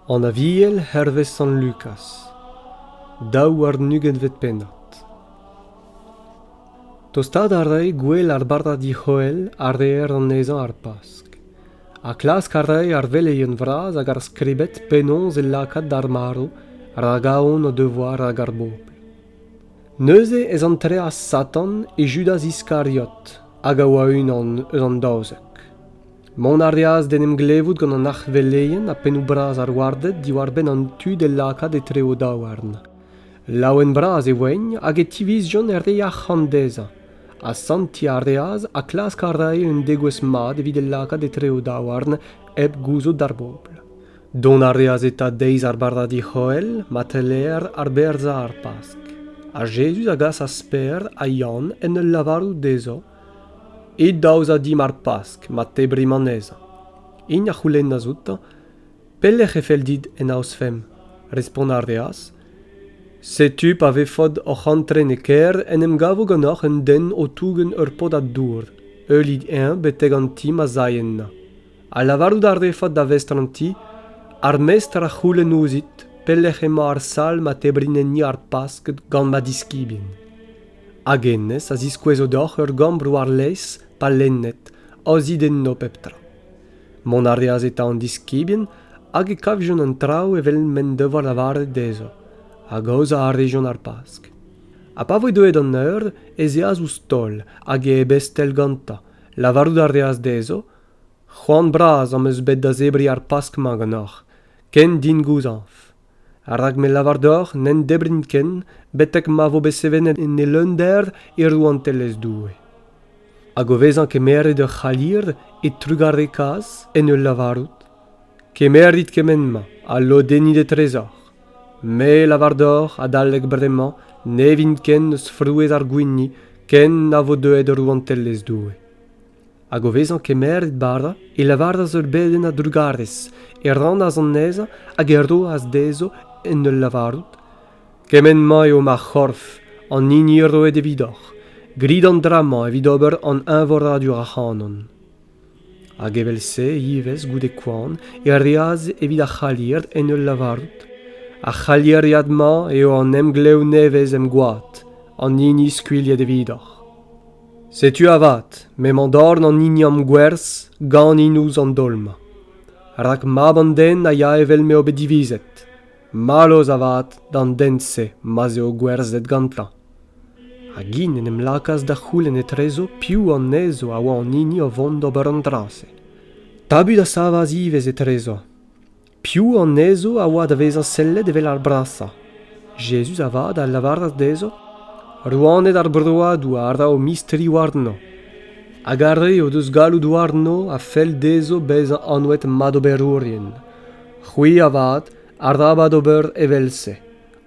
An Aviel hervez Sant Lukaz, daou warn-ugentvet pennad. Tostaat a rae gwell ar bardadi C'hoel a reer anezhañ ar Pask, ha klask a rae ar veleien vras hag ar skribed penaos e lakaat d'ar marv ragaon o devoa rak ar bobl. Neuze ez antreas Satan e Judas Iskariot, hag a oa unan eus an daouzek. Mont a reas d'en em glevout gant an arc'hveleien ha pennoù-bras ar warded diwar-benn an tu d'e lakaat etre o daouarn. Laouen bras e voent hag e tivizjont er re arc'hant dezhañ. Asantiñ a reas ha klask a rae un degouezh mat evit e lakaat etre o daouarn hep gouzout d'ar bobl. Dont a reas eta deiz ar bardadi C'hoel ma teller arberzhañ ar Pask. Ha Jezuz a gasas Peder ha Yann en ul lavarout dezho It da aozañ dimp ar Pask ma tebrimp anezhañ. Int a c'houlennas outañ Pelec'h e fell dit en aozfemp? Respont a reas Setu pa vefot oc'h antren e kêr en em gavo ganeoc'h un den o tougen ur podad dour. Heulit-eñ betek an ti ma zay ennañ. ha lavarout a refot da vestr an ti ar mestr a c'houlenn ouzhit pelec'h emañ ar sal ma tebrinen-ni ar Pasked gant ma diskibien. Hag hennezh a ziskouezo deoc'h ur gambr war-lez pa lenned, aozit enno pep tra. Mont a reas eta an diskibien hag e kavjont an traoù evel m'en devoa lavaret dezho, hag aozañ a rejont ar Pask. Ha pa voe deuet an eur, ez eas ouzh taol hag e ebestel gantañ. Lavarout a reas dezho c'hoant bras am eus bet da zebriñ ar pask-mañ ganeoc'h ken din gouzañv rak me lavar deoc'h n'en debrin ken betek ma vo bet sevenet en e leunder e rouantelezh Doue. Hag o vezañ kemeret ur c'halir e trugarekaas en ul lavarout Kemerit kement-mañ ha lodennit etrezoc'h. Me lavar deoc'h adalek bremañ ne vin ken eus frouezh ar gwini ken na vo deuet rouantelezh Doue. Hag o vezañ kemeret bara, e lavaras ur bedenn a-drugarez, e rannas anezhañ hag e roas dezho en ul lavarout, Kement-mañ eo ma c'horf, an hini roet evidoc'h. Grit an dra-mañ evit ober an eñvoradur ac'hanon. Hag evel-se ivez goude koan e reas evit ar c'halier en ul lavarout, Ar c'halieriad-mañ eo an emglev nevez em gwad, an hini skuilhet evidoc'h. Setu avat m'emañ dorn an hiniom gwerz ganin ouzh an daol-mañ. Rak mab an den a ya evel m'eo bet divizet. Mallozh avat d'an den-se ma'z eo gwerzhet gantañ. Hag int en em lakaas da c'houlenn etrezo piv anezho a oa an hini o vont d'ober an dra-se. Tabut a savas ivez etrezo. Piv anezho a oa da vezañ sellet evel ar brasañ? Jezuz avat a lavaras dezho, Rouaned ar broadoù a ra o mistri warno, hag ar re o deus galloud warno a fell dezho bezañ anvet madoberourien. C'hwi avat, arabat ober evel-se.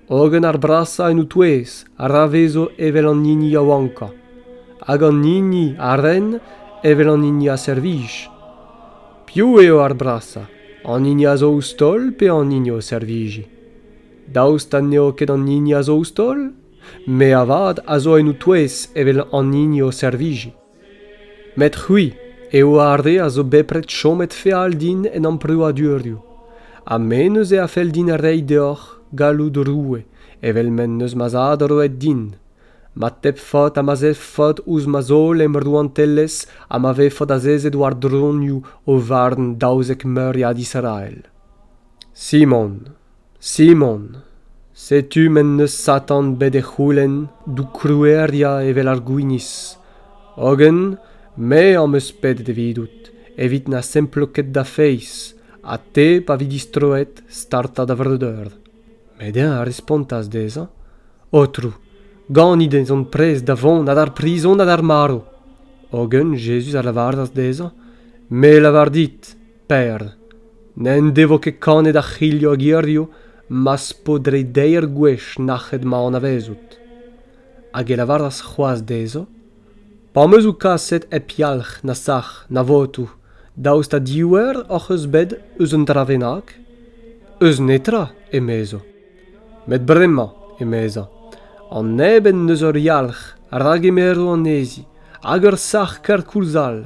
hogen ar brasañ en o-touez a ravezo evel an hini yaouankañ hag an hini a ren evel an hini a servij piv eo ar brasañ an hini a zo ouzh taol pe an hini o servijiñ daoust ha n'eo ket an hini a zo ouzh taol me avat a zo en ho-touez evel an hini o servijiñ Met c'hwi eo ar re a zo bepred chomet feal din en amprouadurioù, ha me neuze a fell din reiñ deoc'h galloud roue evel m'en deus ma zad roet din, ma tep faotr ha ma zef faotr ouzh ma zaol em rouantelezh ha ma vefot azezet war dronioù o varn daouzek meuriad Israel. Simon. Simon, setu m'en deus Satan bet e c'houlenn d'ho kroueriañ evel ar gwinizh, hogen me am eus pedet evidout evit na semplo ket da feiz, ha te pa vi distroet startañ da vreudeur. Met eñ a respontas dezhañ, Aotrou, ganit ez on prest da vont ha d'ar prizon ha d'ar marv. Hogen Jezuz a lavaras dezhañ, Me 'lavar dit, Per, n'en devo ket kanet ar c'hilho hag hirio ma'z po dre deir gwech nac'het ma anavezout. Hag e lavaras c'hoaz d'ezo: Pa am eus ou kaset hep yalc'h na sac'h na votou, daoust ha div eur hoc'h eus bet eus un dra bennak? Eus netra, emezo. Met bremañ, emezañ, an neb en deus ur yalc'h, ra gemero anezi, hag ur sac'h kerkoulz all,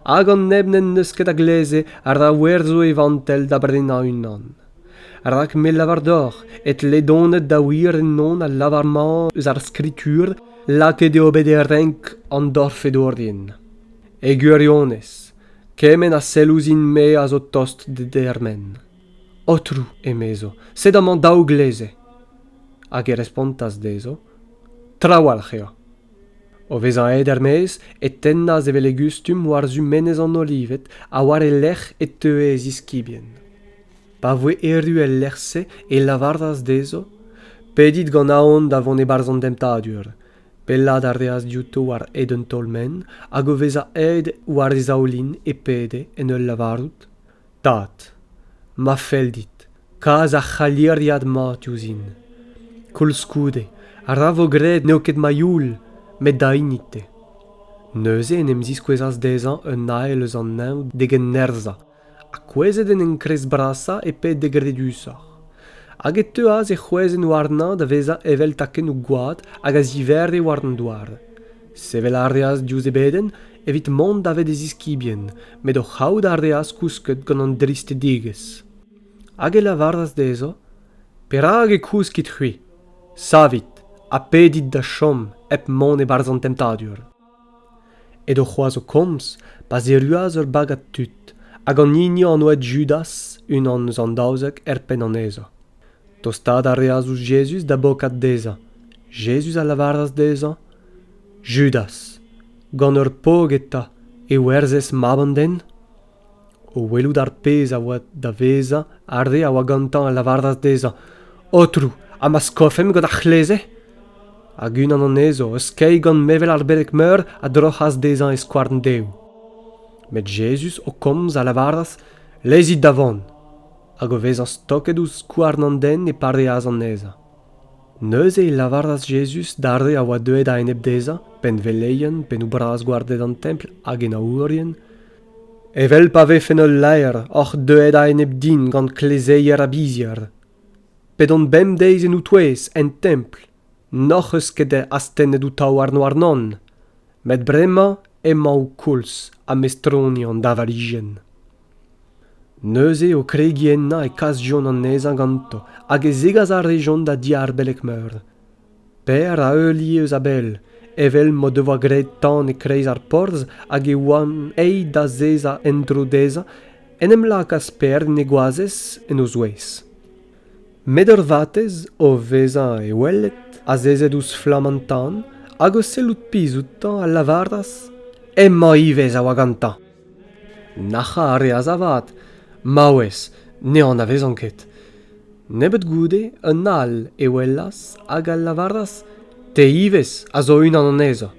hag an neb n'en deus ket a gleze a ra werzho e vantell da brenañ unan rak me lavar deoc'h e tle donet da wir ennon al lavar-mañ eus ar skritur lakaet eo bet e renk an dorfedourien e gwirionez kement a sell ouzhin-me a zo tost d'e dermen aotrou emezo sed amañ daou gleze hag e respontas dezho trawalc'h eo O vezañ aet er-maez e tennas evel e gustum war-zu menez an Olived ha war e lerc'h e teue e ziskibien. Pa voe erru el lec'h-se e lavaras dezho Pedit gant aon da vont e-barzh an demptadur. Pellaat a reas diouto war hed un taol-menn hag o vezañ aet war e zaoulin e pede, en ul lavarout Tad, ma fell dit kas ar c'haliriad-mañ diouzhin. Koulskoude, ra vo graet n'eo ket ma youl, met da hini-te. Neuze en em ziskouezas dezhañ un ael eus an neñv d'egen nerzhañ, ha kouezhet en enkrez-brasañ e-ped d'e gredusoc'h. Hag e teuas e c'hwezenn warnañ da vezañ evel takennoù gwad hag a zivere war an douar. Sevel a reas diouzh e bedenn evit mont davet e ziskibien, met o c'haout a reas kousket gant an dristedigezh. Hag e lavaras dezho, Perak e kouskit c'hwi? Savit ha pedit da chom hep mont e-barzh an temptadur. Edo c'hoazh o komz pa zerruas ur bagad tud, hag an hini an oa Judas, unan eus an daouzek, er penn anezho. Tostaat a reas ouzh Jezuz da bokat dezhañ. Jezuz a lavaras dezhañ, Judas, gant ur pog eta e werzhez mab an den? O welout ar pezh a oa da vezañ, ar re a oa gantañ a lavaras dezhañ, Aotrou, ha ma skofemp gant ar c'hleze? Hag unan anezho, eskeiñ gant mevel ar beleg-meur, a droc'has dezhañ e skouarn dehoù. Met Jezuz, o komz, a lavaras, Lezit da vont. hag o vezañ stoket ouzh skouarn an den e pareas anezhañ. Neuze e lavaras Jezuz d'ar re a oa deuet a-enep dezhañ, penn-veleien, pennoù-bras-gwarded an Templ hag henaourien, Evel pa vefen ul laer oc'h deuet a-enep din gant klezeier ha bizhier, p'edon bemdeiz en ou-touez, en Templ, n'hoc'h eus ket astennet ho taouarn warnon, met bremañ emañ ho koulz ha mestroni an davarijenn. neuze o kregiñ ennañ e kasjont anezhañ ganto hag e zegas a rejont da diar beleg-meur Per a heulie eus a-bell evel m'o devoa graet tan e-kreiz ar porzh hag e oant aet da zezañ en-dro dezhañ en em lakaas Per en e goazez en o zouez met ur vatezh o vezañ e oueled azezet ouzh flamm an tan hag o sellout pizh outañ a lavaras hemañ ivez a oa gantañ Nac'hañ a reas avat. Maouez, ne anavezan ket. Nebeut goude, un all e welas hag a lavaras Te ivez a zo unan anezhañ.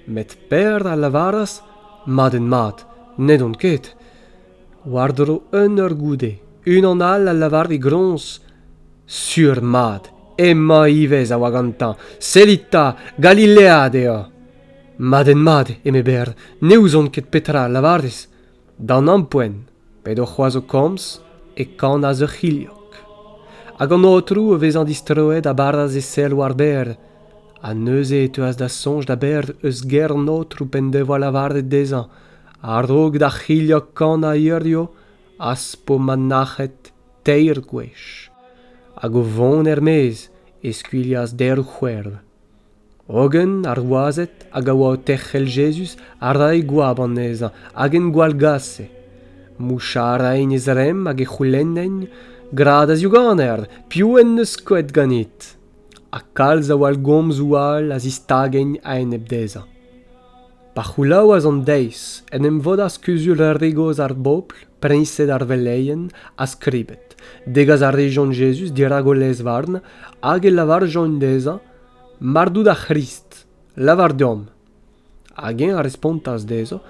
Met Per a lavaras Madenmat, n'edon ket. War-dro un eur goude, unan all a lavar e groñs Sur mat, emañ ivez a oa gantañ. Sellit 'ta, Galilead eo. Madenn-mat, eme Ber, ne ouzon ket petra a lavarez. D'an ampoent, p'edo c'hoazh o komz, e kanas ur c'hilhog. Hag an aotrou, o vezañ distroet, a baras e sell war Ber, ha neuze e teuas da soñj da Ber eus ger an aotrou p'en devoa lavaret dezhañ, a-raok d'ar c'hilhog kanañ hirio, az po ma nac'het teir gwech. Hag o vont er-maez, e skuilhas deir c'hwerv. Hogen ar wazed hag a oa o terc'hel Jezuz a rae goap anezhañ hag en gwallgase. Mouchañ a raent e zremm hag e c'houlennent, Gra da ziouganer, piv en deus skoet ganit? Ha kalz a wallgomzoù all a zistagent a-enep dezhañ. Pa c'houlaouas an deiz, en em vodas kuzul ur re gozh ar bobl, priñsed ar veleien, ha skribed. Degas a rejont Jezuz dirak o lezvarn hag e lavarjont dezhañ, Mar dout ar C'hrist, lavar deomp. Hag eñ a respontas dezho,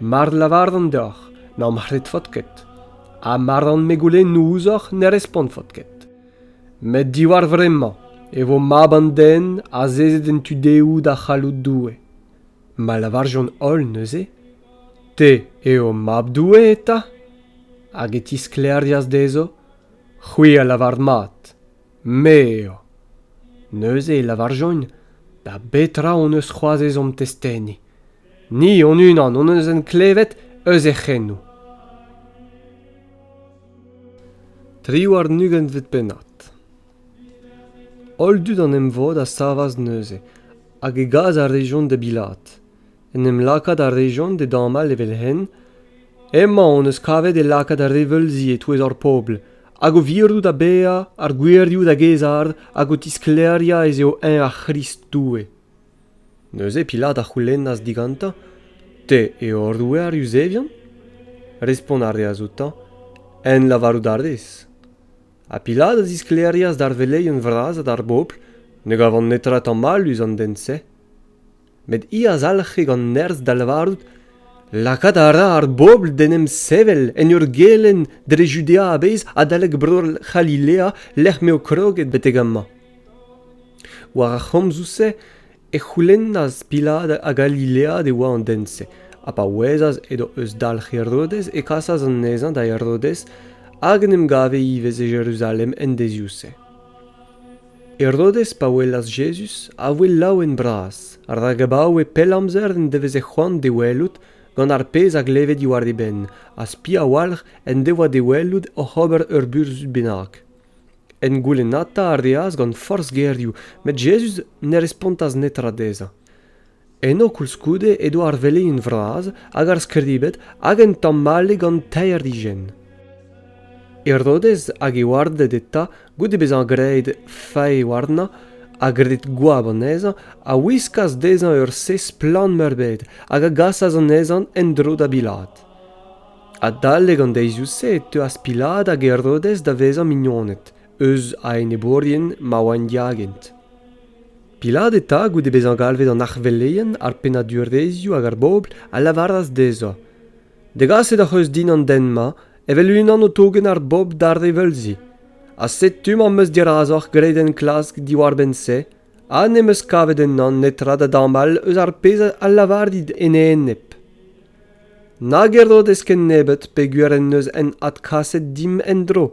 Mar lavaran deoc'h n'am c'hredfot ket, ha mar an-me goulennoù ouzhoc'h ne respontfot ket. Met diwar vremañ e vo Mab an Den azezet en tu dehoù da c'halloud Doue. Ma lavarjont holl neuze, Te eo Mab Doue eta? Hag e tisklêrias dezho, C'hwi a lavar mat. Me eo. Neuze e lavarjont da betra hon eus c'hoazh ezhomm testeni. Ni hon-unan hon eus en klevet eus he c'henoù. Triwar-nugentvet pennad Holl dud an emvod a savas neuze, hag e gaz a rejont da bilaat. en em lakaat a rejont da damall evel-henn emañ hon eus kavet e lakaat ar reveulzi e-touez hor pobl hag o virout da baeañ ar gouerioù da gaezhaat hag o tisklêriañ ez eo eñ ar C'hrist Doue. Neuze Pilat a c'houlennas digantañ Te eo hor Roue ar Yuzevion? Respont a reas outañ En lavarout a rez. Ha Pilat a zisklêrias d'ar veleien vras ha d'ar bobl ne gavont netra tamm mallus an den-se. met hi a zalc'he gant nerzh da lavarout lakaat a ra ar bobl d'en em sevel en ur gelenn dre Judea a-bezh adalek Bro-C'halilea lec'h m'eo kroget betek amañ. War ar c'homzoù-se e c'houlennas Pilat a Galilead e oa an den-se, ha pa ouezas edo eus dalc'h Herodez e kasas anezhañ da Herodez hag en em gave ivez e Jeruzalem en deizioù-se. Herodez, pa welas Jezuz, a voe laouen-bras, rak abaoe pell amzer en deveze c'hoant d'e welout gant ar pezh a gleve diwar e benn, ha spi a-walc'h en devoa d'e welout oc'h ober ur burzhud bennak. En goulennata a reas gant forzh gerioù, met Jezuz ne respontas netra dezhañ. Eno koulskoude edo ar veleinn vras hag ar skribed hag un tamm-ale gant teir higenn. Herodez hag e warded eta, goude bezañ graet fae warnañ ha graet goab anezhañ, a wiskas dezhañ ur sez splann-meurbet hag a gasas anezhañ en-dro da Bilad. Adalek an deizioù-se e teuas Pilad hag Herodez da vezañ mignoned, eus a enebourien ma oant diagent. Pilat eta, goude bezañ galvet an arveleien, ar pennadurezhioù hag ar bobl, a lavaras dezhañ, Degaset hoc'h eus din an den-mañ evel unan o tougen ar bobl d'ar reveulzi. Ha setu m'am eus dirazoc'h graet enklask diwar-benn-se, ha n'em eus kavet ennañ netra da damall eus ar pezh a lavarit en e enep. Nag e rod eskent nebeut peogwir en deus hen adkaset dimp en-dro.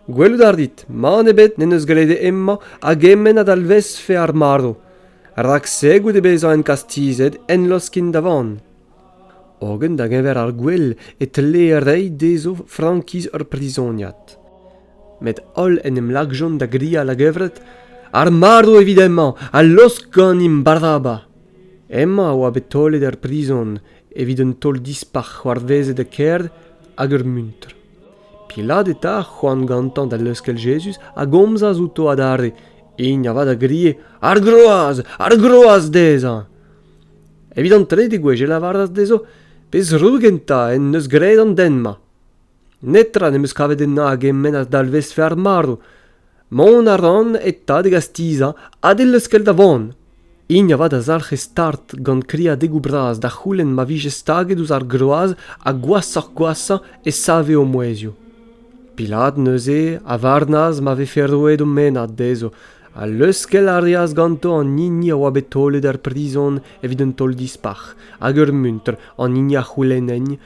Gwelout a rit, mann ebet n'en deus graet hemañ a-gement a dalvezfe ar marv, rak-se goude bezañ enkastizet enloskin da vann. Hogen da-geñver ar gwel e tlee reiñ dezho frankiz ur prizoniad. Met holl en em lakjont da grial a-gevret ar marv evit hemañ a losk ganimp Baraba. Hemañ a oa bet taolet er prizon evit un taol dispac'h c'hoarvezet e kêr hag ur muntr. Pilat eta a c'hoant gantañ da leuskel Jezuz a gomzas outo adarre, hini avat a grie Ar groaz! Ar groaz dezhañ! Evit an trede gwech e lavaras dezho pezh-roue gentañ en deus graet an den-mañ. Netra n'em eus kavet ennañ a gemennas dalvezfe ar marv, Mont a ran e tad e gastizañ ha d'e leuskel da vont. Hini avat a zalc'he start gant kriadegoù bras da c'houlenn ma vije staget ouzh ar groaz ha gwashoc'h-gwashañ e save o mouezhioù. Pilat neuze a varnas ma vefe roet o mennad dezho ha leuskel a reas ganto an hini a oa bet taolet er prizon evit un taol dispac'h hag ur muntr an hini a c'houlennent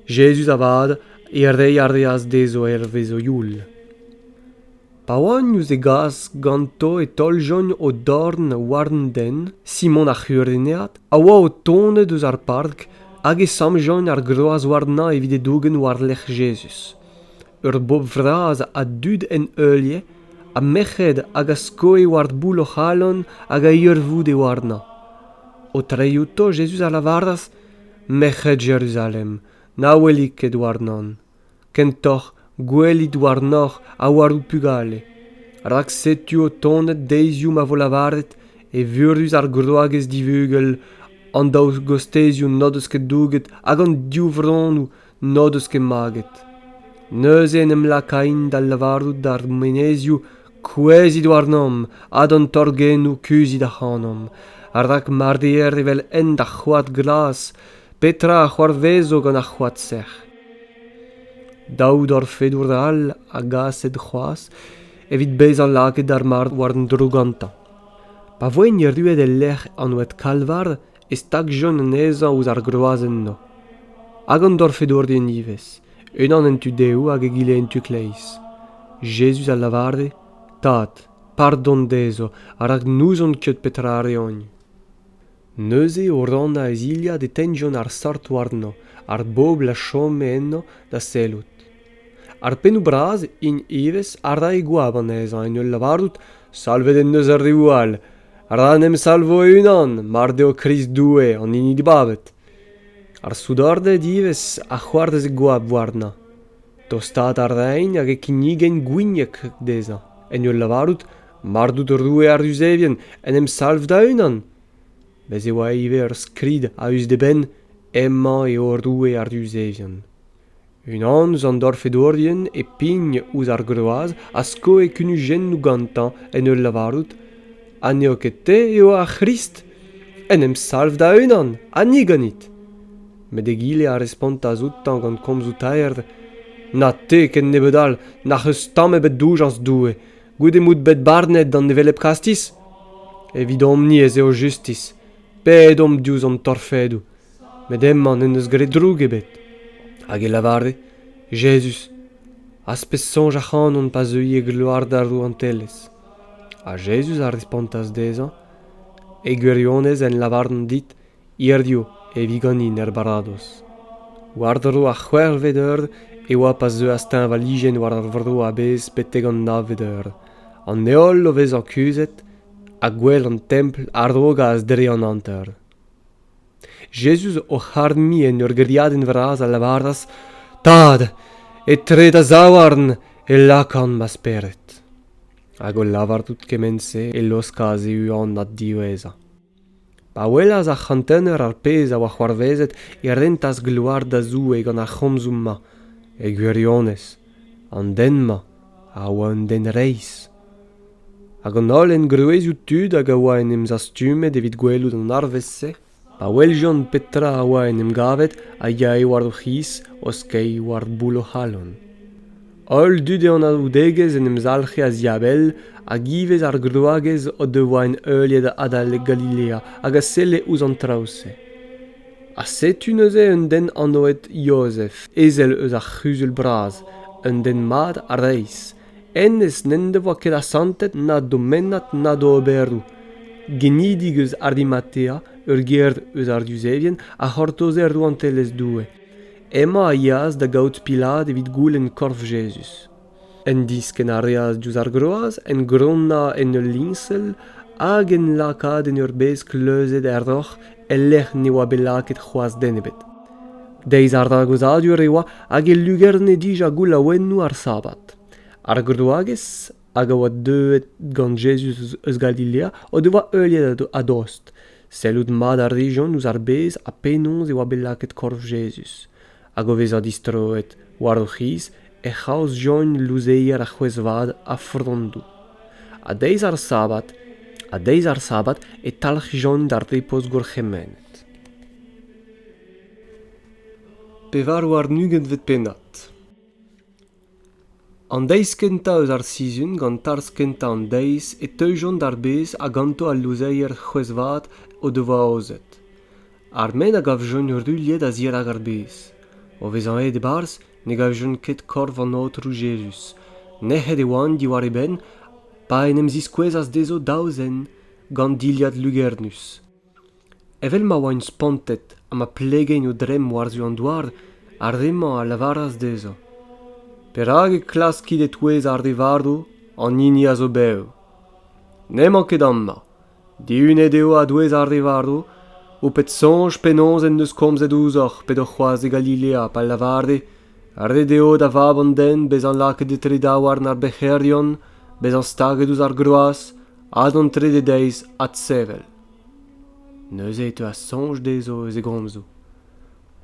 Jezuz avat e rei a reas d'ezo hervez o youl. Pa oant ouz e gas ganto e taoljont o dorn war an den, Simon ar C'hurenead, a oa o tonet eus ar park hag e samjont ar groaz warnañ evit e dougen war-lerc'h Jezuz. Eur bobl vras a dud en heulier, ha merc'hed hag a skoe war boull o c'halon hag a irvoude warnañ. O trei outo, Jezuz a lavaras: merc'hed Jeruzalem, na welit ket warnan. Kentoc'h gwelit warnoc'h ha war ho pugale. Rak setu o tonet deiziou ma vo lavaret evurus ar groagez divugel, an daou gostezioù n'o deus ket douget hag an div vronnoù n'o deus ket maget. Neuze en em lakain da lavarout d'ar menezioù kouezhit warnomp ha d'an torgennoù kuzhit ac'hanomp, rak ma reer evel hent ar c'hoad glas, petra a c'hoarvezo gant ar c'hoad sec'h? Daout orfedour all a gaset c'hoazh evit bezañ lakaet ar mard war an dro gantañ. Pa voent erruet e-lec'h an oad Kalvar e stagjont anezhañ ouzh ar groazhenn-mañ hag an dorfedourien ivez unan en tu dehoù hag egile en tu-kleiz jezuz a lavare tad pardon dezho rak n'ouzon ket petra a reont neuze o rannañ e zilhad e tegnjont ar sort warnañ ar bobl a chome ennañ da sellout ar pennoù-bras int ivez a rae goap anezhañ en ul lavarout salvet en deus ar reoù all ra en em salvo e-unan mar deo krist doue an hini dibabet ar soudarded ivez a c'hoarveze goap warnañ tostaat a raent hag e kinnigent gwinieg dezhañ en ul lavarout mar out roue ar Yuzevien en em salv da-unan bez' e oa ivez ur skrid a-us d'e benn emañ eo roue ar Yuzevien unan eus an dorfedourien e pign ouzh ar groaz a skoe kunujennoù gantañ en ul lavarout ha n'eo ket te eo ar C'hrist en em salv da-unan ha ni ganit met egile a respontas outañ gant komzoù taer na te ken nebeut all n'ac'h eus tamm ebet doujañs Doue goude m'out bet barnet d'an hevelep kastiz evidomp-ni ez eo justis pedomp diouzh hon torfedoù met hemañ n'en deus graet droug ebet hag e lavare jezuz az pez soñj ac'hanon pa zeuy e gloar d'ar rouantelezh ha jezuz a respontas dezhañ e gwirionez en lavaran dit hiziv e vi ganin er baradoz war-dro ar c'hwec'hvet eur e oa pa zeuas teñvalijenn war ar vro a-bezh betek an navet eur an heol o vezañ kuzhet ha gwell an templ a rogas dre an hanter Jezuz oc'h arnoniñ en ur gêriadenn vras a lavaras, Tad, etre da zaouarn e lakan ma spered. Hag o lavarout kement-se e laoskas e uan diwezhañ. Pa welas ar c'hantener ar pezh a oa c'hoarvezet e rentas gloar da Zoue gant ar c'homzoù-mañ, e gwirionez, an den-mañ a oa un den reizh hag an holl engroezioù tud hag a oa en em zastumet evit gwelout an arvest-se pa weljont petra a oa en em gavet a yae war o c'hiz o skeiñ war boull o c'halon holl dud e anaoudegezh en em zalc'he a-ziabell hag ivez ar groagez o devoa en heuliet adalek Galilea hag a selle ouzh an traoù-se Ha setu neuze un den anvet Jozef, ezel eus ar c'huzul bras, un den mat ha reizh. Hennezh n'en devoa ket asantet na domennad na d'oberoù. Genidik eus Arimatea, ur gêr eus ar Yuzevien, a c'hortoze rouantelezh Doue. Hemañ a yeas da gaout Pilat evit goulenn korf Jezuz. En diskenn a reas diouzh ar groaz en gronnañ en ul liñsel hag en lakaat en ur bez kleuzet er roc'h e-lec'h ne oa bet lakaet c'hoazh den ebet. Deiz ar ragozadur e oa hag e lugerne dija goulaouennoù ar Sabad. Ar groagez hag a oa deuet gant Jezuz eus Galilea o devoa heuliet a-dost. Sellout mat a rijont ouzh ar bez ha penaos e oa bet lakaet korf Jezuz. hag o vezañ distroet war o c'hiz e c'haozjont louzeier ar c'hwezh-vat ha frondoù. A-deiz ar sabad, a-deiz ar sabad e talc'hjont d'ar ripoz gourc'hemennet. Pevar warn-ugent 'vit pennad. an deiz kentañ eus ar sizhun gant tarzh kentañ an deiz e teujont ar bez ha ganto al louzeier c'hwezh-vat o devoa aozet ar men a gavjont ruilhet a-zirak ar bez o vezañ aet e-barzh ne gavjont ket korf an aotrou jezuz nec'het e oant diwar e benn pa en em ziskouezas dezho daou zen gant dilhad lugernus Evel ma oaint spontet ha ma plegeint o dremm war-zu an douar, ar re-mañ a lavaras dezho Perak e klaskit e-touez ar re varv an hini a zo bev? N'emañ ket amañ. Dihunet eo a-douez ar re varv, ho pet soñj penaos en deus komzet ouzhoc'h p'edoc'h c'hoazh e Galilea pa lavare Ret eo da Vab an den bezañ lakaet etre daouarn ar bec'herion, bezañ staget ouzh ar groaz ha d'an trede deiz adsevel. neuze e teuas soñj dezho eus e gomzoù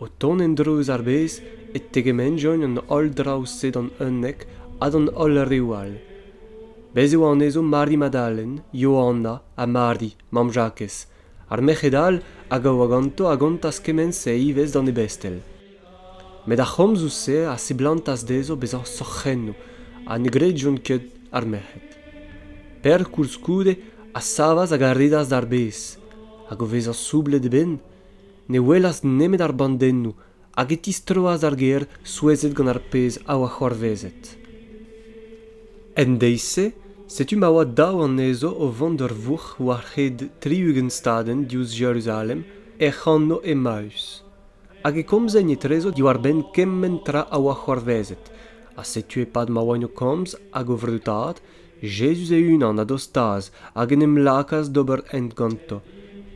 o tont en-dro eus ar bez e tegemenjont an holl draoù-se d'an unnek ha d'an holl reoù all bez' e oa anezho Mari Madalen Yohanna ha Mari mamm Jakez ar merc'hed all a gavoa ganto a gontas kement-se ivez d'an ebestel Met ar c'homzoù-se a seblantas dezho bezañ sorc'hennoù ha ne gredjont ket ar merc'hed. Per koulskoude a savas hag a redas d'ar bez, hag o vezañ soublet e benn, ne welas nemet ar bandennoù hag e tistroas d'ar gêr souezhet gant ar pezh a oa c'hoarvezet. En deiz-se, setu ma oa daou anezho o vont d'ur vourc'h war-hed tri-ugent stadenn diouzh Jeruzalem, hec'h anv Emaüs. Hag e komzen etrezo diwar-benn kement tra a oa c'hoarvezet. Ha setu e-pad ma oain o komz hag o vreutaat, Jezuz e-unan a dostaas hag en em lakaas d'ober hent ganto.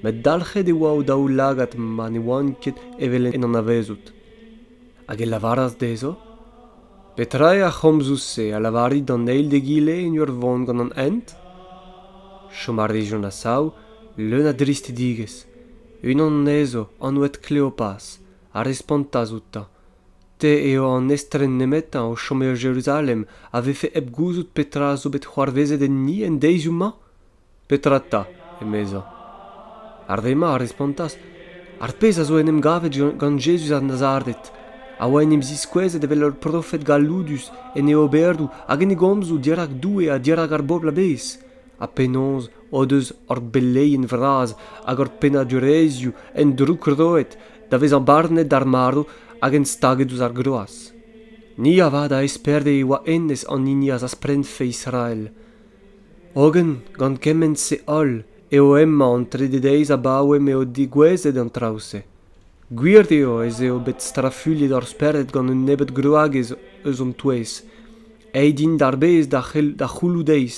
Met dalc'het e oa o daoulagad ma ne oant ket evel en anavezout. Hag e lavaras dezho, Petra eo ar c'homzoù-se a lavarit d'an eil d'egile en ur vont gant an hent? Chom a rejont a-sav, leun a dristidigezh. unan anezho anvet kleopaz a respontas outañ te eo an estren nemetañ o chom e jeruzalem a vefe hep gouzout petra zo bet c'hoarvezet enni en deizioù-mañ petra 'ta emezañ ar re-mañ a respontas ar pezh a zo en em gavet gant jezuz a nazaret a oa en em ziskouezet evel ur profed galloudus en e oberoù hag en e gomzoù dirak doue ha dirak ar bobl a-bezh ha penaos o deus hor beleien vras hag hor pennadurezhioù endroukroet da vezañ barnet d'ar marv hag enstaget ouzh ar groaz. Ni avat a esperde e oa hennezh an hini a zaspredfe Israel. Hogen, gant kement-se holl, eo hemañ an trede deiz abaoe m'eo degouezhet an traoù-se. Gwir eo ez eo bet strafuilhet hor spered gant un nebeud gwragez eus hon touez, Aet int d'ar bez da c'hell da c'houloù-deiz.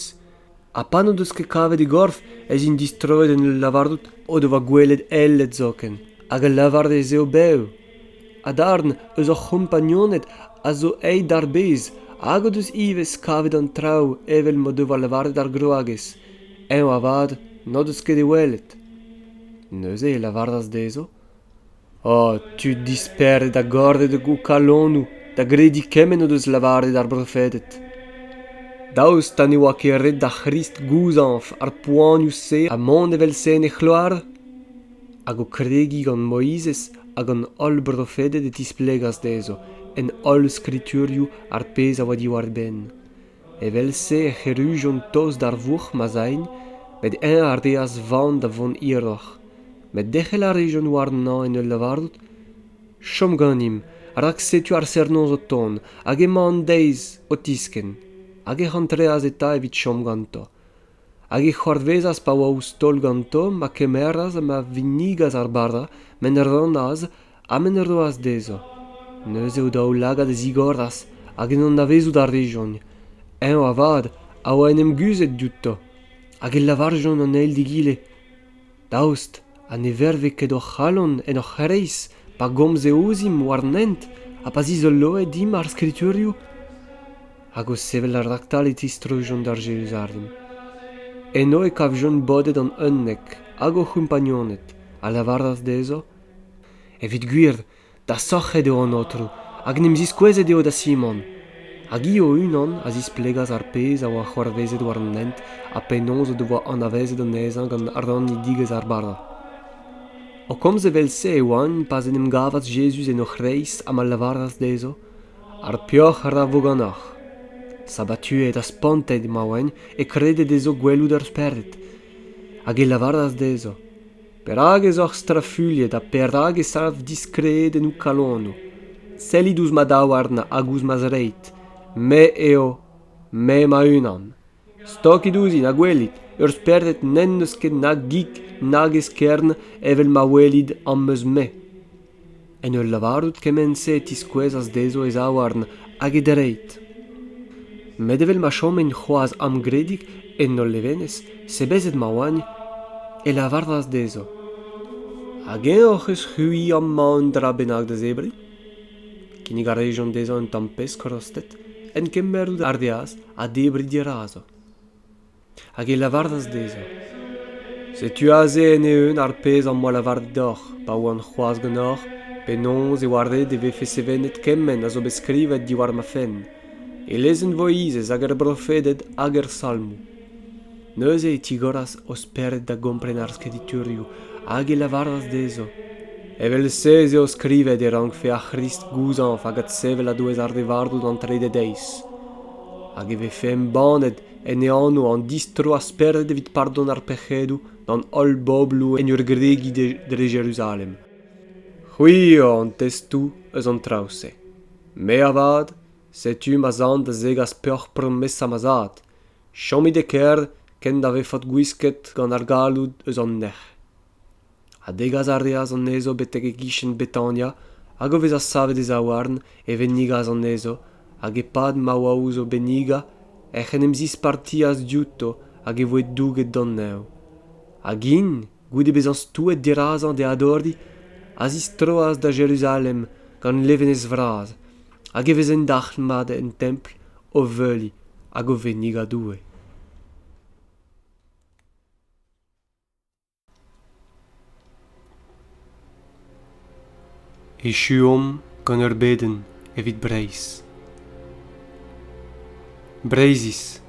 Ha pa n'o deus ket kavet e gorf ez int distroet en ul lavarout o devoa gwelet eled zoken, hag a lavare ez eo bev. Ha darn eus hor c'hompagnoned a zo aet d'ar bez hag o deus ivez kavet an traoù evel m'o devoa lavaret ar gwragez. Eñ avat n'o deus ket e welet. Neuze e lavaras dezho Oh tud dispered ha gordet eo ho kalonoù da grediñ kement o deus lavaret ar brofeded. Daoust ha ne oa ket ret d'ar C'hrist gouzañv ar poanioù-se ha mont evel-se en e c'hloar? Hag o kregiñ gant Moizez ha gant holl brofeded e tisplegas dezho, en holl skriturioù, ar pezh a oa diwar-benn. Evel-se ec'h errujont tost d'ar vourc'h ma zagn, met eñ a reas van da vont hiroc'h. Met derc'hel a rejont warnañ en ul lavarout: Chom ganimp, rak setu ar serr-noz o tont, hag emañ an deiz o tiskenn. Hag ec'h antreas eta evit chom ganto. hag e c'hoarvezas pa oa ouzh taol ganto ma kemeras ha ma vinnigas ar bara ma en rannas ha ma en roas dezho neuze o daoulagad a zigoras hag en anavezout a rejont eñ avat a oa en em guzhet diouto hag e lavarjont an eil d'egile daoust ha ne verve ket hor c'halon en hor c'hreiz pa gomze ouzhimp war an hent ha pa zizoloe dimp ar skriturioù hag o sevel raktal e tistrujont d'ar Jeruzalem. Eno e kavjont bodet an unnek hag o c'hompagnoned, a lavaras dezho, Evit gwir, Da sorc'het eo an aotrou hag en em ziskouezet eo da Simon. Hag hi o-unan a zisplegas ar pezh a oa c'hoarvezet war an hent ha penaos o devoa anavezet anezhañ gant rannidigezh ar bara. O komz evel-se e oant pa'z en em gavas Jezuz en o c'hreiz ha ma lavaras dezho ar peoc'h ra vo ganeoc'h. Sabatuet ha spontet ma oant e krede dezho gwelout ur spered. Hag e lavaras dezho Perak ez oc'h strafuilhet ha perak e sav diskredennoù kalonoù? Sellit ouzh ma daouarn hag ouzh ma zreid. Me eo, me ma-unan. Stokit ouzhin ha gwelit, ur spered n'en deus ket na gig nag eskern evel ma welit am eus-me. En ul lavarout kement-se e tiskouezas dezho e zaouarn hag e dreid. Met evel ma chomin c'hoazh amgredig en hol levenez, sebezet ma oagn, e lavarvas dezho Hag eñ hoc'h eus c'hwi amañ un dra bennak da zebriñ? Kinnig a rejont dezhañ un tamm pesk rostet, en kemer ar deaz ha debriñ dirazo. hag e lavaras dezhañ setu aze en-eeun ar pezh am boa lavaret deoc'h pa oan c'hoazh ganeoc'h penaos e oa ret e vefe sevenet kement a zo bet skrivet diwar ma fenn e lezenn voizez hag er brofeded hag er salmoù neuze e tigoras o spered da gompren ar skriturioù hag e lavaras dezho evel-se ez eo skrivet e rankfe ar c'hrist gouzañv hag adsevel a-douez ar re varv d'an trede deiz hag e vefe embannet en e anv an distroa-spered evit pardon ar pec'hedoù d'an holl bobloù en ur gregiñ dre Jeruzalem. C'hwi eo an testoù eus an traoù-se. Me avat, setu ma zan da zegas peoc'h promesa ma zad. Chomit e kêr kent da vefot gwisket gant ar galloud eus an nec'h. ha degas a reas anezho betek e-gichen betania hag o vezañ savet e zaouarn e vennigas anezho hag e-pad ma oa ouzh o bennigañ ec'h en em zispartias diouto hag e voe douget d'an neñv hag int goude bezañ stouet dirazañ d'e adoriñ a zistroas da jeruzalem gant levenez vras hag e vezent dalc'hmat en templ o veuriñ hag o vennigañ doue Echuomp gant ur bedenn evit Breizh. Breizhiz,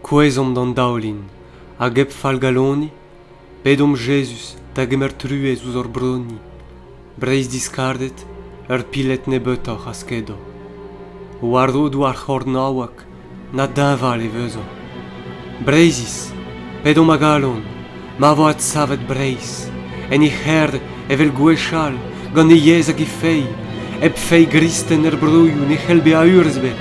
kouezhomp d'an daoulin hag hep fallgaloniñ, pedomp Jezuz da gemer truez ouzh hor broni. Breizh-diskardet, ur piled nebeutoc'h a skedo. War rodoù ar c'hornaoueg, na deñval e vezo. Breizhiz, p'edomp a galon, ma vo adsavet Breizh, en he c'herr evel gwechall, gant he yezh hag he feiz, hep feiz gristen er broioù ne c'hell bezañ urzh ebet.